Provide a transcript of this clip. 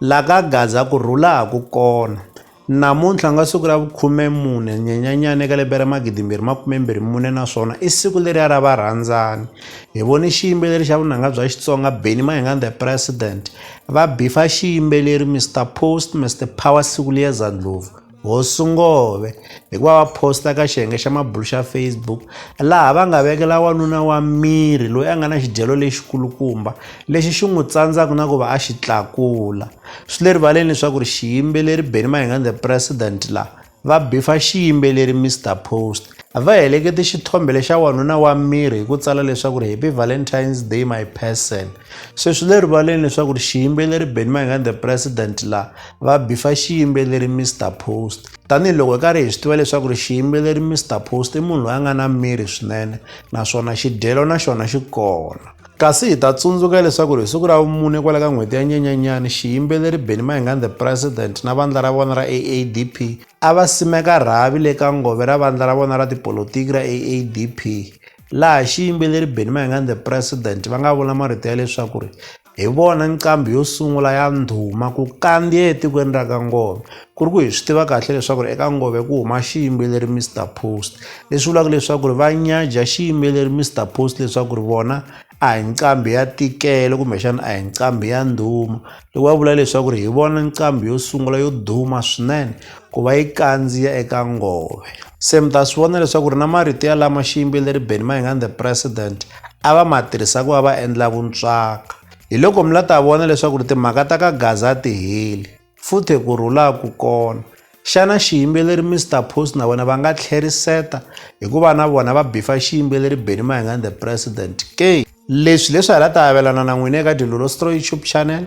la ka Gaza ku rhula ha ku kona. Namuntlha ku nga siku ra vu 14 Nyenyenyani eka lembe ra 2024 naswona i siku leriya ra varhandzani. Hi vone xiyimbeleri xa vunanga bya Xitsonga Benny Mayengani The President va bifa xiyimbeleri Mister Post Mister Power siku liya za Ndlopfu. Hosi Ngove hi ku va va posta ka xiyenge xa mabulu xa Facebook laha va nga vekela wanuna wa miri loyi a nga na xidyelo lexikulukumba lexi xi n'wi tsandzaka na ku va a xi tlakula swi le rivaleni leswaku ri xiyimbeleri Benny Mayengani the president laha va bifa xiyimbeleri Mister Post va helekete xithombe lexa wanuna wa miri hi ku tsala leswaku ri happy valentine's day my person se swi le rivaleni leswaku ri xiyimbeleri Benny Mayengani the president laha va bifa xiyimbeleri Mr Post tanihiloko hi karhi hi swi tiva leswaku ri xiyimbeleri Mr Post i munhu loyi a nga na miri swinene naswona xidyelo na xona xi kona kasi hi ta tsundzuka leswaku ri hi siku ra vumune kwala ka n'hweti ya nyenyanyani xiyimbeleri benny mahingan the president na vandla ra vona ra aadp a va simeka rhavi le ka ngove ra vandla ra vona ra tipolotiki ra aadp laha xiyimbeleri benny mahingan the president va nga vula marito ya leswaku ri hi vona nqambi yo sungula ya ndhuma ku kandziya etikweni ra ka ngome ku ri ku hi swi tiva kahle leswaku ri eka ngome ku huma xiyimbeleri mr post leswi vulaka leswaku ri va nyadya xiyimbeleri mr post leswaku ri vona a hi nqambi ya tikele kumbexana a hi nqambi ya ndhuma loko va vula leswaku ri hi vona nqambi yo sungula yo duma swinene ku va yi kandziya eka ngome se mi ta swi vona leswaku ri na marito ya lama xiyimbeleri benimahingani the president a va ma tirhisa ku va va endla vuntswaka. Hi loko mi la ta vona leswaku ri timhaka ta ka Gaza a ti heli, futhe ku rhula ku kona. Xana xiyimbeleri Mister Post na vona va nga tlheriseta hi ku va na vona va bifa xiyimbeleri Benny Mayengani the President ke? Leswi leswi ha la ta avelana na n'wina eka Dilolo Story YouTube channel.